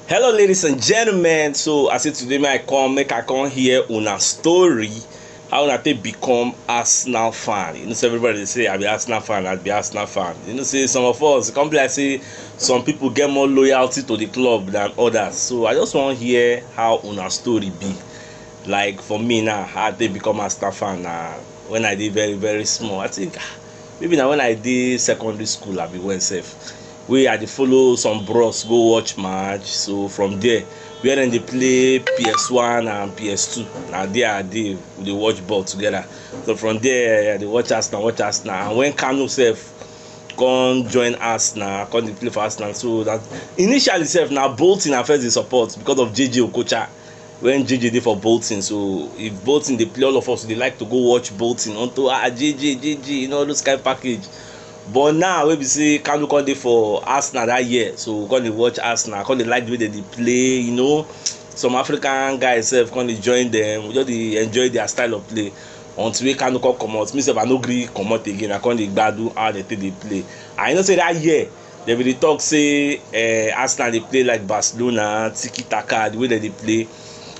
Hello ladies and gentlemen, so I say today make I come make I come hear una story how una take become Arsenal fan. You know say everybody dey say I be Arsenal fan, I be Arsenal fan. You know say some of us e come be like say some people get more loyalty to the club than others. So I just wan hear how una story be. Like for me now, how I take become Arsenal fan na when I dey very very small. I think ah, Maybe na when I dey secondary school abi when sef wey I dey follow some bros go watch match so from there where dem dey play PS one and PS two na there I dey we dey watch ball together so from there I dey watch Arsenal watch Arsenal and when Kanu sef come join Arsenal come dey play for Arsenal so that initially sef na Bolton I first dey support because of JJ Okocha when JJ dey for Bolton. So if Bolton dey play, all of us dey like to go watch Bolton unto ah JJ, JJ, you know all those kind package. But now wey be say Kanu come dey for Arsenal that year, so we come dey watch Arsenal, come dey like the way dem dey play, you know. Some African guys sef come dey join them, we just dey enjoy their style of play until wey Kanu come comot. Me sef I no gree comot again, I come dey gbadu how dem take dey play. And you know say that year Dem bin dey talk say eh, Arsenal dey play like Barcelona, tiki taka, the way dem dey play.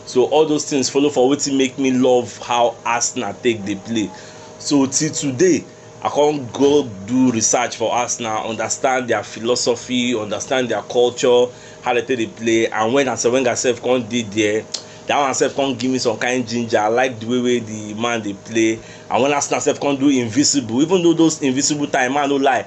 So all those things follow for wetin make me love how Arsenal take dey play. So till today, I come go do research for Arsenal, understand their philosophy, understand their culture, how dem take dey play. And when Arsene Wenger sef come dey there, that one sef come give me some kind ginger. I like the way wey the man dey play. And when Arsenal sef come do invisible, even though those invisible time, make I no lie,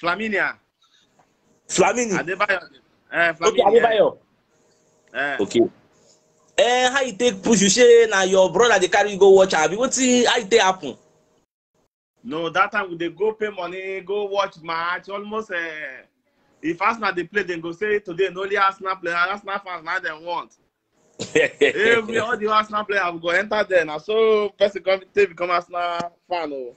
Flaminia. Flamini. Adebayo. Eh, Flamini. Okay, Adebayo. Eh. Okay. Eh, how you take push? You say na your brother dey carry you go watch abi? Wetin how you take happen? No, that time we dey go pay money, go watch match. Almost uh, if Arsenal dey play, dem go say today na only Arsenal player, Arsenal fans na dem want. Every all the Arsenal player we go enter there now. So person come take become Arsenal fan oh.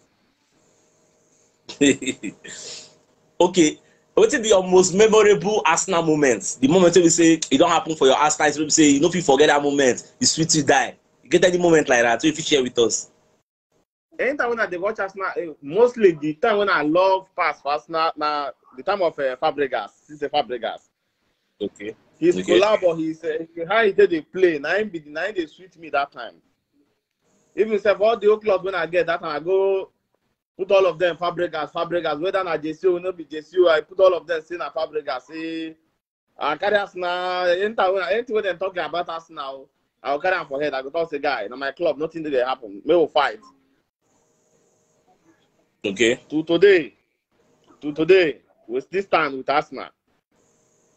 okay. What is your most memorable Arsenal moment? The moment we say it don't happen for your Arsenal, so we say you know if you forget that moment, you sweet you die. You get any moment like that, so if you share with us. Anytime when I dey watch Arsenal, eh, mostly the time when I love pass for Arsenal, na the time of uh, Fabregas, since Fabregas. Okay. His okay. collab or his uh, how he did the play, na him be the na him dey sweet me that time. Even if all the old clubs when I get that time, I go put all of them Fabregas, Fabregas, whether na JCO, no be JCO, I put all of them say na Fabregas, say I carry us now. Anything when they talking about us now, I will carry am for head. I go talk say guy, na my club, nothing dey happen. We will fight. Okay. To today, to today, with this time with Arsenal,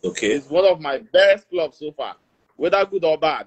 Okay. it's one of my best clubs so far, whether good or bad.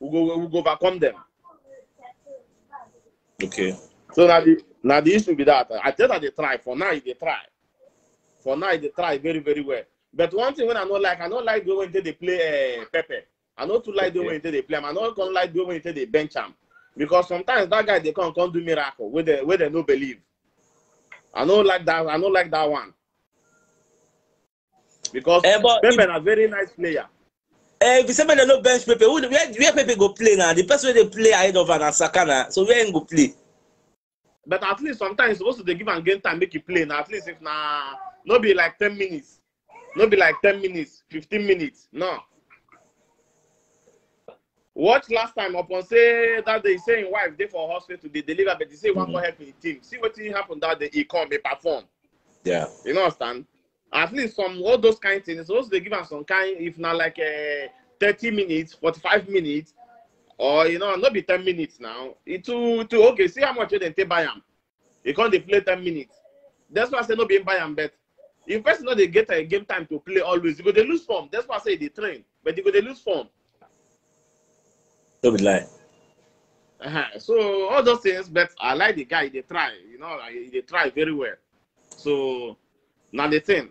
we go we go overcome them. Okay. So now the now the issue be that I tell that they try for now they try. For now they try very very well. But one thing when I don't like, I don't like the way they play uh, Pepe. I don't too like the way they play. I don't come like the way they bench him because sometimes that guy they come come do miracle where they where they no believe. I don't like that. I don't like that one. because eh, Pepe if, na very nice player. Eh, if you say make dem no bench Pepe, who, where, where Pepe go play na? The person wey dey play ahead of am na Saka na, so where im go play? But at least sometimes you suppose to dey give am game time make e play na, at least if na no be like ten minutes, no be like ten minutes, fifteen minutes, no. Watch last time upon say that day say him wife dey for hospital dey deliver but he say he wan go help him team. See wetin happen that day he come he perform. Yeah. You know understand? At least some all those kind things suppose dey give am some kind if na like uh, thirty minutes, forty-five minutes or you know no be ten minutes now. E too too okay see how much wey dem take buy am. He come dey play ten minutes. That's why I say no be him buy am bet. If person no dey get a game time to play always, you go dey lose form. That's why I say they train, but you go dey lose form. No be lie. Uh-huh. So all those things, but I like the guy. They try, you know, I- they try very well. So now the thing,